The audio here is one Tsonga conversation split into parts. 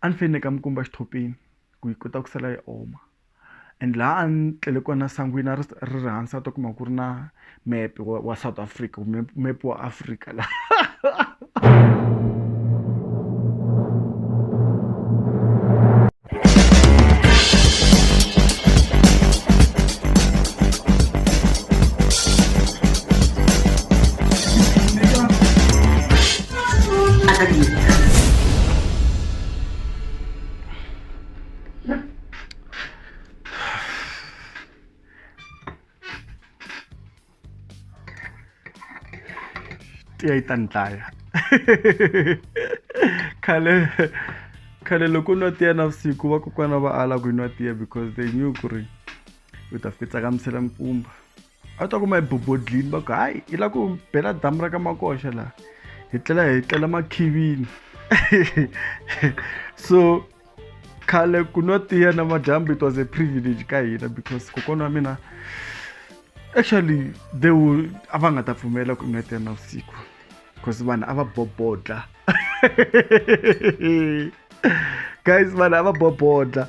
a ni fanele ni veka mikumba exithopheni ku yi kota ku sala yi oma and laha a ni tlele kona sangwini a ri ri ri hansi a ta kuma ku ri na mepe wa wa south africa kumbe mepe wa africa la tiya yi ta ni dlaya khale khale loko nwa tiya navusiku vakokwana va ala ku yi nwa tiya because they knew ku ri u ta fitsa ka misela mpfumba a ta kuma ebobodlini va ku hayi yi lava ku bela damu ra ka makoxa laha hi tlela hi tlela makhivini so khale ku nwa tiya na madyambu it was a privilege ka hina because kokwana wa mina actually they will a va nga ta pfumela ku nwa tiya na vusiku because vanhu a va bobodla guys vanhu a va bobodla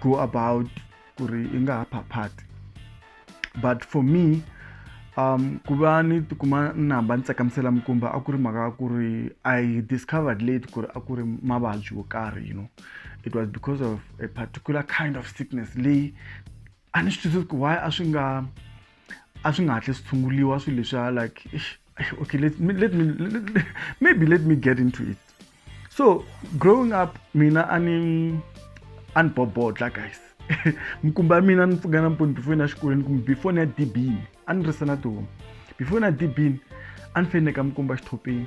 go about ku ri i nga ha phaphati but for me um ku va ni tikuma ni hamba ni tsakamisela mikumba a ku ri mhaka ya ku ri i discovered late ku ri a ku ri mavabyi yo karhi you know it was because of a particular kind of sickness leyi a ni swi twisisi ku why a swi nga a swi nga hatli swi tshunguliwa swilo leswiya like okay let me, let me let, maybe let me get into it so growing up mina a ni a ni bobodla guys mikumba ya mina ni pfuka namponi before na xikolweni kumbe before ni ya dibini a ni risa na tihomu before na dibini a ni feneka mikumba xithopheni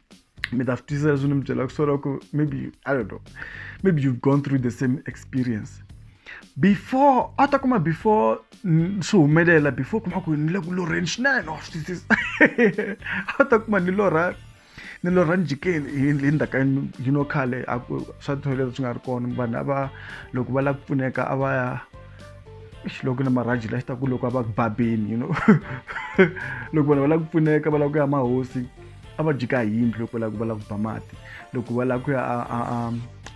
mi ta swi twisisa leswi ni mi byelaka swona ku maybe i don't know maybe you've gone through the same experience before a ta kuma before swi humelela before kuma ku ni le ku lorheni swinene wa swi twisisa a ta kuma ni lorha ni lorha njhikeni hi ndzhaka you know khale a ku swa toilet swi nga ri kona vanhu a va loko va lava ku pfuneka a va ya xiloko na marhaji la xi ta ku loko a va ku babeni you know loko vanhu va lava ku pfuneka va lava ku ya mahosi a va jika hi yindlu loko lava va lava ku ba mati loko va lava ku ya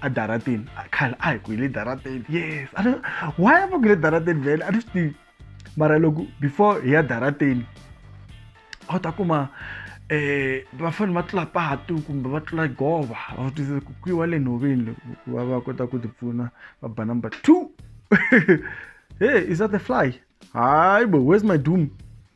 adarateni khale a hi ku hi le darateni yes a why a va ku le darateni vhele a ni swi tivi mara loko before hi ya darateni a wu ta kuma eh va fanele va tlula patu kumbe va tlula gova va swi twisisa ku kwiwa le nhoveni ku va va kota ku tipfuna va ba number two hey is that the fly hayi bo where's my doom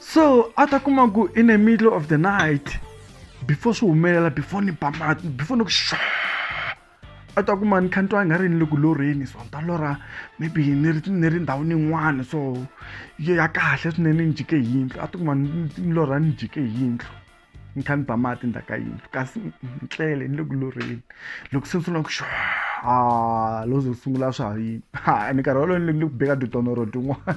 so a ta kuma ku in the middle of the night before swi humelela before ni ba mati before ni ku xa a ta kuma ni kha ni twa i nga ri ni le ku lorheni so ni ta lorha maybe ni ri ni ri ndhawini yin'wana so yo ya kahle swinene ni jike hi yindlu a ta kuma ni ni lorha ni jike hi yindlu ni kha ni ba mati ndzhaku ka yindlu kasi ni tlele ni le ku lorheni loko se ni sungula ku xa a lo ze sungula swa yini ha ni karhi wolowo ni le ku beka titonoro tin'wana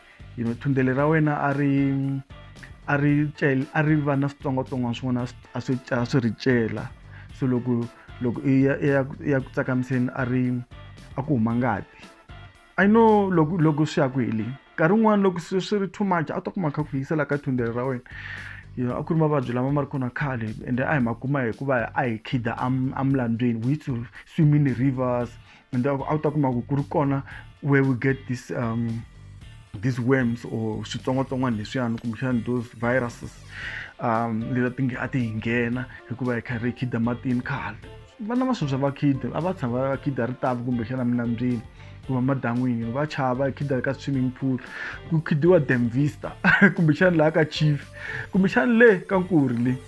you know thundele ra wena a ri a ri cela a ri va na switsongwatsongwana swin'wana a swi a swi ri cela so loko loko i ya i ya i ya ku tsakamiseni a ri a ku huma ngati i know loko loko swi ya ku heleni nkarhi wun'wana loko swi swi ri too much a ta kuma kha ku yisela ka thundele ra wena you know a ku ri mavabyi lama ma ri kona khale ende a hi ma kuma hikuva a hi khida emlandzweni we used to swim in the rivers and a wu ta kuma ku ku ri kona where we get this um, these worms or switsongwatsongwana leswiyani kumbexana those viruses um leta ti nge a ti hi nghena hikuva hi karhi hi khida matini khale vana va sweswi va khida a va tshama va khida ri tavi kumbexana minambyeni kumbe madan'wini va chava khida ka swimming pool ku khidiwa damvista kumbexana laha ka chief kumbexana le ka nkuri le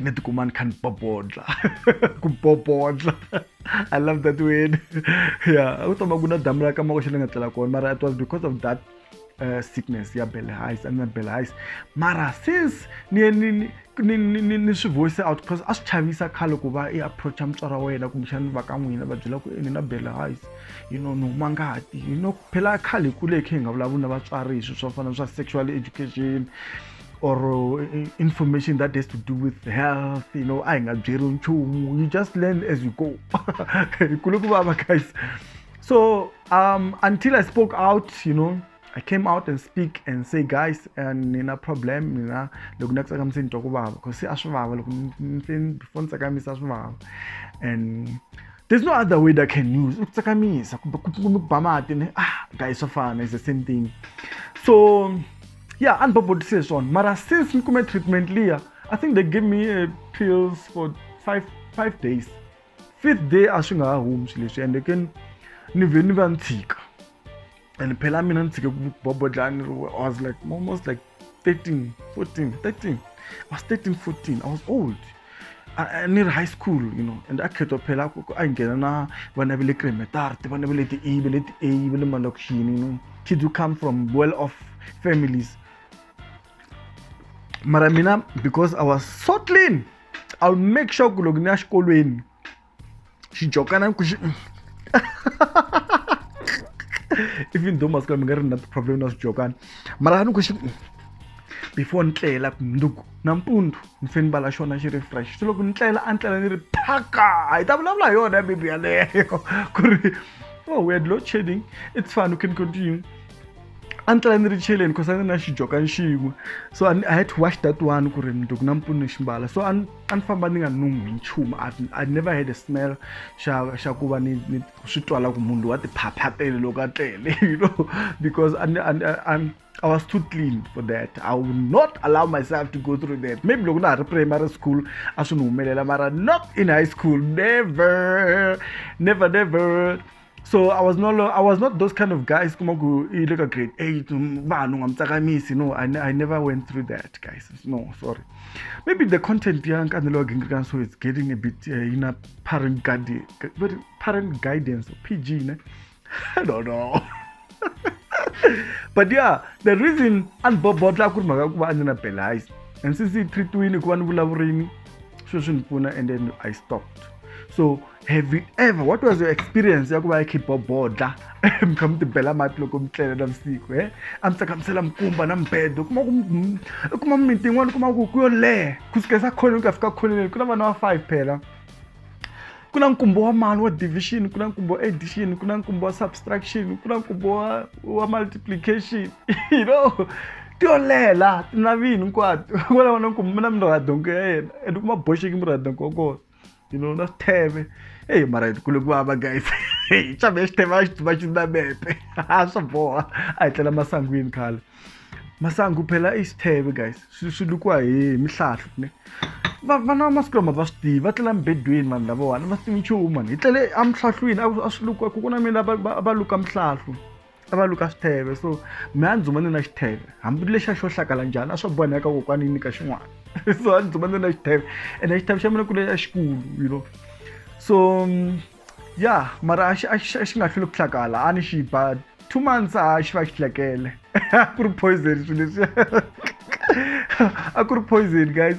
ni tikuma ni kha ni popodla ku popodla i love that word yeah a ku toma ku na damu la ka mako xi ni nga tlela kona mara it was because of that uh, sickness ya belle highs and belle highs mara since ni ni ni ni ni swi voice out because a swi chavisa khale ku va i approacha mutswari wa wena kumbexana va ka n'wina va byela ku ni na belle highs you know ni huma ngati you know phela khale hi kule hi khe hi nga vulavuli na vatswari hi swilo swo fana swa sexual education or uh, information that has to do with health you know a hi nga byeriwi nchumu you just learn as you go hi kule ku vava guys so um, until i spoke out you know i came out and speak and say guys and nina problem nina loko ni tsakamisa ni twa ku vava because se a swi vava loko before ni tsakamisa a swi vava and there's no other way that i can use ku tsakamisa kumbe ku ba mati ne ah guys swa fana is the same thing so yeah and bobo says on mara since nikume treatment liya i think they gave me uh, pills for five, five days fifth day a swi nga ha humi swi leswi ende ke ni vhe ni va ni tshika and phela mina ni tshike ku bobo dlaya ni ri i was like almost like 13 14 13 i was 13 14 i was old ni ri high school you know and a khetwa phela ku a nghena na vana va le cremetart vana va le ti-a va le ti-a va le malokixini you know kids who come from well off families mara mina because i was so clean i'll make sure ku loko ni ya xikolweni xijokana ku xi even though masiku lama nga ri na problem na swijokana mara ni ku xi before ni tlela mundzuku nampundzu ni fe ni vala xona xi ri fresh se loko ni tlela a ni tlela ni ri phaka hi ta vulavula hi yona ya bebi yaleyo ku ri oh we had load shedding it's fine we can continue a ni tlela ni ri cheleni cause a ni na xijokani xin'we so I, i had to wash that one ku ri mundzuku nampundzu ni xi mbala so a a ni famba ni nga nunghwi nchumu i never had a smell xa xa ku va ni ni swi twala ku munhu loyi wa tiphaphatele loko a tlele you know because I, I, I, I was too clean for that i would not allow myself to go through that maybe loko na ha ri primary school a swi ni humelela mara not in high school never never never so i was no long, i was not those kind of guys kuma ku i le ka grade eight vanhu nga mi tsakamisi no I, i never went through that guys no sorry maybe the content ya nkanelo wa gingirikana so it's getting a bit uh, eh, ina parent guardian parent guidance pg ne i don't know but yeah the reason a ni bobodla ku ri mhaka ku va a ni na belize and since yi treatiwile ku va ni vulavurini sweswi ni pfuna and then i stopped so have you ever what was your experience ya ku va ya khibobodla mi kha mi tibela mati loko mi tlele na vusiku e a mi tsakamisela mikumba na mibedo kuma ku i kuma mimiti yin'wana kuma ku ku yo leha ku sukesa khoneni ku ya fika khoneni ku na vana va five phela ku na nkumbo wa mali wa division ku na nkumbo wa addition ku na nkumbo wa subtraction ku na nkumbo wa wa multiplication you know ti yo leha laha ti na vini hinkwato ku na vana nkumbo mi na mirhadongo ya yena and kuma boxeki mirhadongo wa kona You know, not teve. Ei, mara, kule kuhava guys. Ei, xa me xithe va xituma xi na mepe. A swa boha. A hi tlela masangwini khale. Masangu phela i xitheve guys. Swi swi lukiwa hi mihlahlu ne. Va vana masiku lama va swi tivi va tlela mibedweni vanhu lavawani va swi tivi nchumu mani hi tlele emihlahlwini a swi lukiwa ku ku na mina va va luka mihlahlu. a va luka xitheve so me a ndzi huma ni na xitheve hambi lexi a xo hlakala njhani a swo boheka kokwani yi nyika xin'wana so a ndzi huma ni na xitheve ene xitheve xa mina ku leya xikulu you know so mm, ya mara a xi a xi a xi nga hlweli ku hlakala a ni xi ba two months a xi va xi hlekele a ku ri poison swilo leswi a ku ri poison guys